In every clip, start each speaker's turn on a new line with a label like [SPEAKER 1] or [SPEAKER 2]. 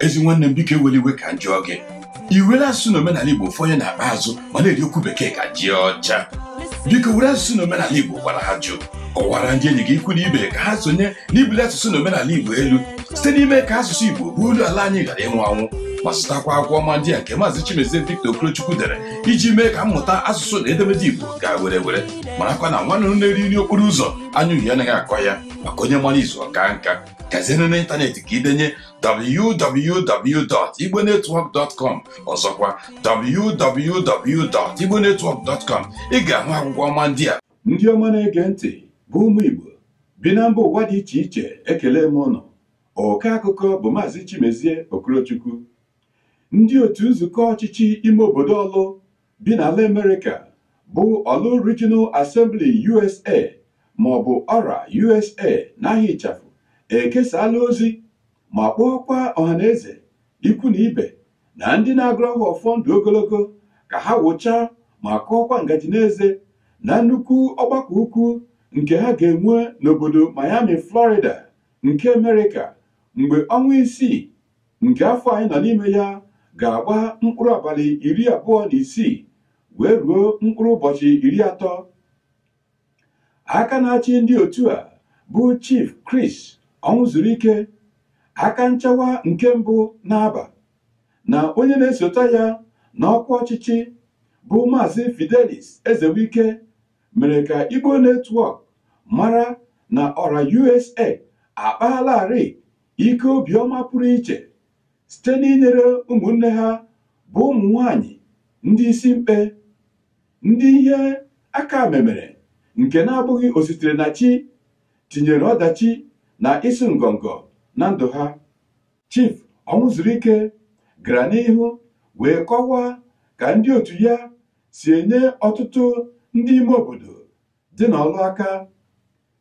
[SPEAKER 1] ezi nwanne m biko ewela iwe ka m jụọ gị i were asụsụ na omenala igbo fọnye n'akpa azụ ma na-eri okwu bekee ka ji ọcha biko were asụsụ na omenala igbo gwara ajụ kọwara ndị enyi gị ikwu na ibe ka ha sonye n'ibuli asụsụ na omenala igbo elu site n'ime ka asụsụ igbo bụ olu ala anyị ghara ịnwụ anwụ ma zụtakwa akwụkwọ ọma ndị a nke maazị Chimezie Victor Okorochukwu dere iji mee ka mmụta asụsụ na edemede Igbo gaa were were marakwa na nwa nnụnụ na-eri nri okporo ụzọ anya uhie anaghị akọ ya maka onye mara izu ọ kaa nka gazienụ n'ịntanetị ka i denye www.igbonetwork.com ọzọkwa www.igbonetwork.com ị ga-ahụ akwụkwọ ọma ndị a ndị ọma na-ege ntị bụ ụmụ Igbo bi na mba ụwa dị iche iche ekele m unu ọkọ akụkọ bụ maazị Chimezie Okorochukwu ndị otu nzukọ ọchịchị ime obodo Ọlụ bi n'ala Amerịka bụ Ọlụ Regional Assembly USA ma ọ bụ Ọra USA n'aha ịchafụ ekesaala ozi ma kpọọkwa ọhaneze ikwu na ibe na ndị na-agọrọ ha ọfọ ndụ ogologo ka ha wụchaa ma kụọkwa ngaji n'eze na nnukwu ọgbakọ ukwu nke ha ga-enwe n'obodo Miami Florida nke Amerịka mgbe ọnwa isii nke afọ anyị nọ n'ime ya ga-agba mkpụrụ abalị iri abụọ na isii wee ruo mkpụrụ ụbọchị iri atọ aka na-achị ndị otu a bụ Chief Chris Ọnwụzuruike aka nchawa nke mbụ n'Abba na onye na-esota ya n'ọkwa ọchịchị bụ Maazị Fidelis Ezewike mere ka Igbo Network mara na Ọra USA akpaalarị ike obiọma pụrụ iche site n'inyere ụmụnne ha bụ ụmụ nwanyị ndị isi mkpe ndị ihe aka memere nke na-abụghị ositere na chi tinyere ọdachi na ịsụ ngọngọ na ndụ ha Chief Ọnwụzuruike gara n'ihu wee kọwaa ka ndị otu ya si enye ọtụtụ ndị ime obodo dị na Ọlụ aka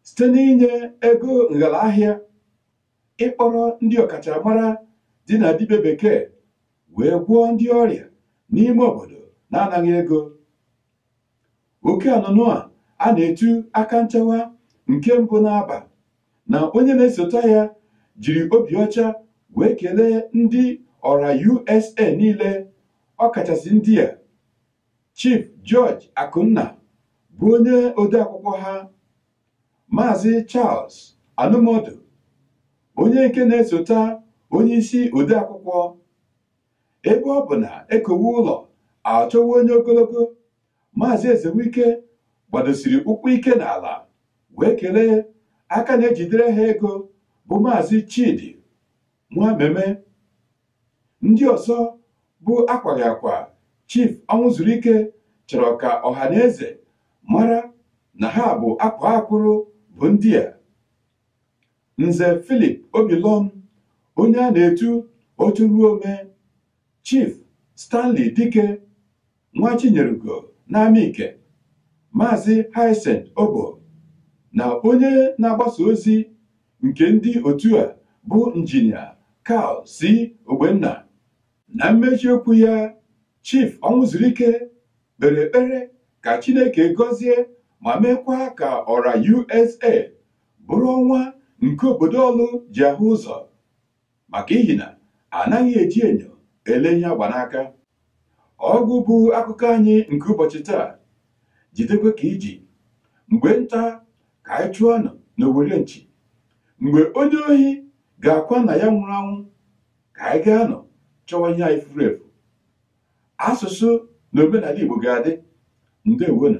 [SPEAKER 1] site n'inye ego nghala ahịa ịkpọrọ ndị ọkachamara dị na dibịa bekee wee gwọọ ndị ọrịa n'ime obodo na-anaghị ego oke nnụnụ a a na-etu aka nchawa nke mbụ n'Abba na onye na-esota ya jiri obi ọcha wee kelee ndị Ọra USA niile ọkachasị ndị a Chief George Akunna bụ onye odeakwụkwọ ha Maazị Charles Anụmụdụ onye nke na-esota onye isi odeakwụkwọ ebe ọ bụ na e kowe ụlọ a chọwa onye ogologo Maazị Ezewike gbadosiri ụkwụ ike n'ala wee kelee aka na-ejidere ha ego bụ Maazị Chidi Nwameme Ndị ọzọ bụ akwaghị akwa Chief Ọnwụzurike chọrọ ka ọha na eze mara na ha bụ akwaa akwụrụ bụ ndị a Nze Philip Obilor onye a na-etu otu ruo ome Chief Stanley Dike nwa Chinyerugo n'Amike Maazị Hyacinth Obo na onye na-agbasa ozi nke ndị otu a bụ injinia Carl C. Ogbenna na mmechi okwu ya Chief Ọnwụzurike kpere ekpere ka Chineke gọzie ma meekwa ka ORA USA bụrụ ọnwa nke obodo Ọlụ ji ahụ ụzọ maka ihi na anaghị eji enyo ele ihe a gba n'aka ọgwụgwụ akụkọ anyị nke ụbọchị taa jidekwa ka i ji mgbe nta ka anyị chụọnụ n'owere nchi mgbe onye ohi ga-akwa nna ya nwụrụ anwụ ka anyị gaanụ chọwa ihe anyị furu efu asụsụ na omenala Igbo ga-adị ndewonụ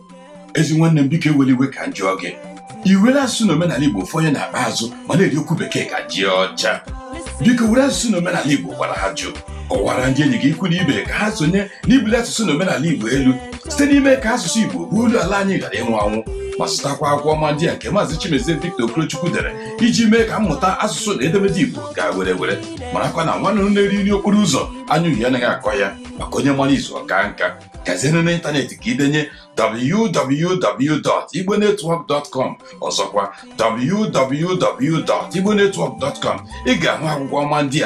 [SPEAKER 1] ezi nwanne m biko ewela iwe ka m jụọ gị i were asụsụ na omenala igbo fonye n'akpa azụ ma na-eri okwu bekee ka ji ọcha biko were asụsụ na omenala igbo gwara ajụ kọwara ndị enyi gị ikwu na ibe ka ha sonye n'ibuli asụsụ na omenala igbo elu site n'ime ka asụsụ igbo bụ olu ala anyị ghara ịnwụ anwụ ma zụtakwa akwụkwọ ọma ndị a nke maazị Chimezie Victor Okorochukwu dere iji mee ka mmụta asụsụ na edemede igbo gaa werewere marakwa na nwa nnụnụ na-eri nri okporo ụzọ anya ọhịa anaghị akọ ya maka onye mara izu ọ kaa nka gazie n'ime ịntanetị ka i denye www.igbonetwork.com ọzọkwa www.igbonetwork.com ị ga-ahụ akwụkwọ ọma ndị a